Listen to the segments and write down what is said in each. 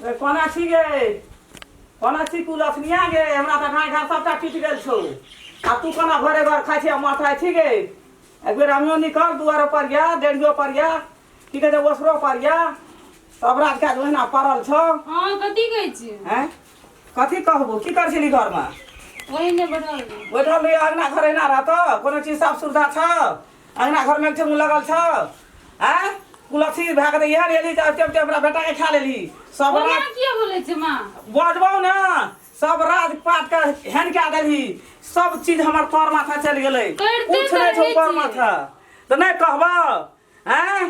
रे कोना छी गे कोना छी तू लक्ष्मिया गे हमरा तऽ घाय घाय सभटा टूटि गेल छौ आ तू कोना भरे घर खाइ छी आ माथा छी गे एक बेर अमियो निकल दुआरो पर या डेढ़ियो पर या की कहै छै ओसरो पर या तब रात काज ओहिना पड़ल छौ हँ कथी कहै छियै हैं कथी कहबो की कर छली घरमे ओहिने बैठल रही। बैठल रही अगना घर एना रहतौ कोनो चीज साफ सुविधा छौ अंगना घर में ठेंगू लगल छौ आ कुलथी भए गेलै इएह लेली तऽ टेम टेम हमरा बेटाके खा लेली सब ओना रात किया बोलै छै माँ बजबौ ने सब रात पाट के हेन कए देली सब चीज हमर तर माथा चलि गेलै करिते कुछ नहि छौ करै तर छी। माथा तऽ नहि कहबौ आँय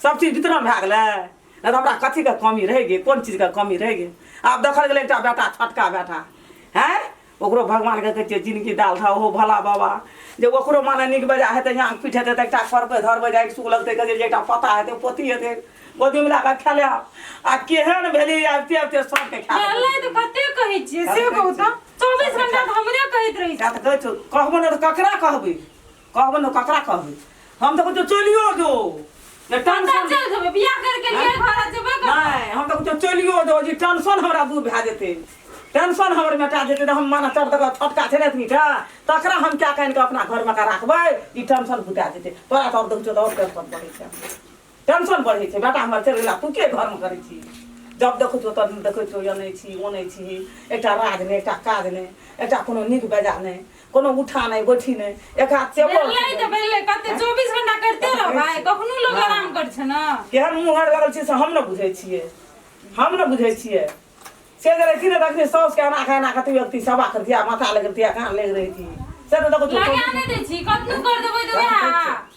सब चीज वितरण भए गेलै नहि तऽ हमरा कथीके कमी रहि गेल कोन चीजके कमी रहि गेल आब देखल गेलै एकटा बेटा छोटका बेटा हैं ओकरो भगवानके कहै छियै जिनगी दाल था ओहो भला बाबा जे ओकरो माने नीक बेजा हेतै यहाँ पीठ हेतै तऽ एकटा करबै धरबै जाइ सुख लगतै कहै जे एकटा पता हेतै पोती हेतै गोदीमे लए कऽ खेले आ केहन भेली आबिते आबिते सबके खेले भेलै तऽ कते कहै छियै से कहू तऽ चौबीस घंटा तऽ हमरे कहैत रहै छियै कहबो ने तऽ ककरा कहबै कहबो न ककरा कहबे हम तो कुछ चलियो दो ये कतऽ टेंशन चल जेबै बियाह करके लिए घर जेबै कतऽ? नहीं हम तो कुछ चलियो दो जी टेंशन हमरा दूर भए जेते टेंशन हमर मेटा जेते हम माना चढ़ तक फटका छै रहत नीटा तकरा हम क्या कहन के अपना घर में का राखबै ई टेंशन बुता जेते तोरा तो और देखो तो और टेंशन बढ़े छै टेंशन बढ़ै छै बेटा हमर चलि गेला तू के घरमे करै छी जब देखै छौ तब देखै छौ अनै छी ओनै छी एकटा राज नहि एकटा काज नहि एकटा कोनो नीक बेजा नहि कोनो उठा नहि बैठी नहि एक हाथ चेपल भेलै तऽ भेलै कते 24 घंटा करते रह भाय कखनो लोग हाँ। आराम कर छै ना केहन मुहर लगल छै से हम ने बुझै छियै हम ने बुझै छियै से जे रहै ने तखने साउस के एना एना कते व्यक्ति सभा करतिया माथा लगतिया कान लग रही से तऽ देखो लगा नहि दै छी कखनो कर देबै तऽ वएह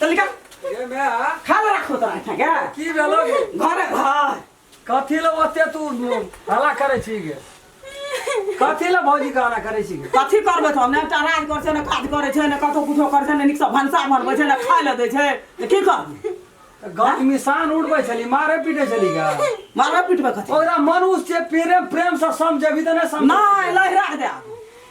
चल निकल ये मैं आ खा ले रखो तोरा अच्छा क्या की भेलो गे घर है घर कथी ले ओते तू हला करे छी गे कथी ले भौजी के हला करे छी गे कथी करबै तऽ ने टराज करै छै ने काज करै छै ने कतौ कुछो करै छै ने नीकसँ भनसा बनबै छै ने खाय लए दै छै तऽ की करबै तऽ गाँव मिसान उड़बै छली मारे पीटे छली गे मारबै पिटबै कथी ओकरा मनुष्य प्रेम प्रेम से समझेबी तऽ नहि समझ नहि लहरा दे आब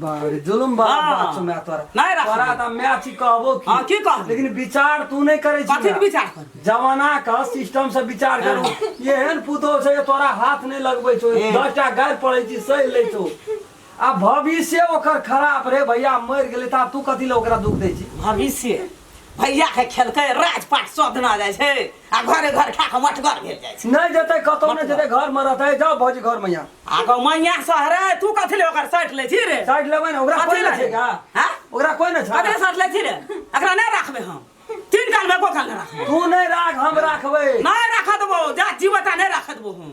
बारे जुलुम बा हाँ। बात सुना तोरा नहीं रख तोरा सकते। त मैं छी कहबो की हाँ, की कहबो? लेकिन विचार तू नहीं करे छी कथी ना। विचार करबै? जमाना का सिस्टम से विचार करू एहन पुतो छै जे तोरा हाथ नहीं लगबै छौ हम्म। दस टा गारि पड़ै छी सहि लै छौ आ भविष्य ओकर खराब रे भैया मरि गेलै त आब तू कथी ले ओकरा दुख दै छी भविष्य भैया के खेलकै राजपाट सदना जाइ छै आ घरे घर खा कऽ मठगर भेल जाइ छै नहि जेतै कतहु नहि जेतै घरमे रहतै जाउ भौजी घरमे यहाँ आगो मैया सहरे तू कथी ले ओकर साइड लै छी रे साइड लेबै ने ओकरा कोइ नहि छै का हँ ओकरा कोइ नहि छै ककरे साथ लै छी रे एकरा नहि राखबै हम तीन काल मे एको काल नहि राखबै तू नहि राख हम राखबै नहि राख देबो जा जीवता नहि राख देबो हम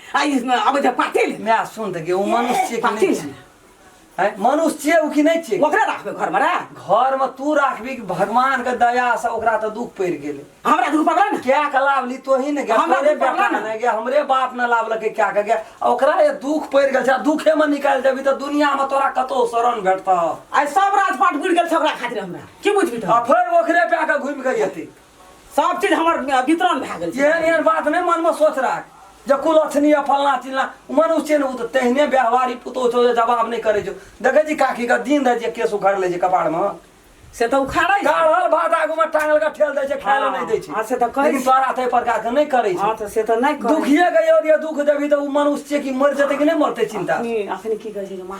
आइ आबै छै पार्टी ले माय सुन तऽ ओ मनुष्य छियै कि पार्टी नहि ले छियै हैं? मनुष्य छियै ओ कि नहि छियै ओकरे राखबै घरमे रे घरमे तू राखबी कि भगवानके दयासँ ओकरा तऽ दुख पड़ि गेलै हमरा दुख पकड़ा ने क्या के लाभ ली तो ही ने गया हमरा हमरे दुख पड़ला बेटा ने। ने गया हमरे बाप ने लाभ लके क्या के गया आ ओकरा ये दुख पड़ गेल छै आ दुखे में निकाल देबी तो दुनिया में तोरा कतो शरण भेटता आइ सब राजपाट बुड़ि गेल छै ओकरा खातिर हमरा की बुझबी आ तो फेर ओकरे पे आके घूम के येती सब चीज हमर वितरण भए गेल एहन एहन बात नहि मनमे सोच राख जे कुलक्षणी या फलना चिलना मन उसे ने तऽ तेहने व्यवहारी पुतौ छौ जे जवाब नहि करै छौ देखै छी काकी के दिन दै जे केस उखाड़ लै छै कपाड़मे से तऽ उखाड़ै छै गाढ़ल भात आगूमे टांगल के ठेल दै छै खाय लए नहि दै छै हँ, से तऽ कहै लेकिन छै। तोरा ताहि प्रकार के नहि करै छै हँ तऽ से तऽ नहि करै दुखिए के योग्य दुख देबी तऽ ओ मनुष्य छियै कि मरि जेतै कि नहि मरतै चिन्ता अखनी अखनी की कहै छै जे माँ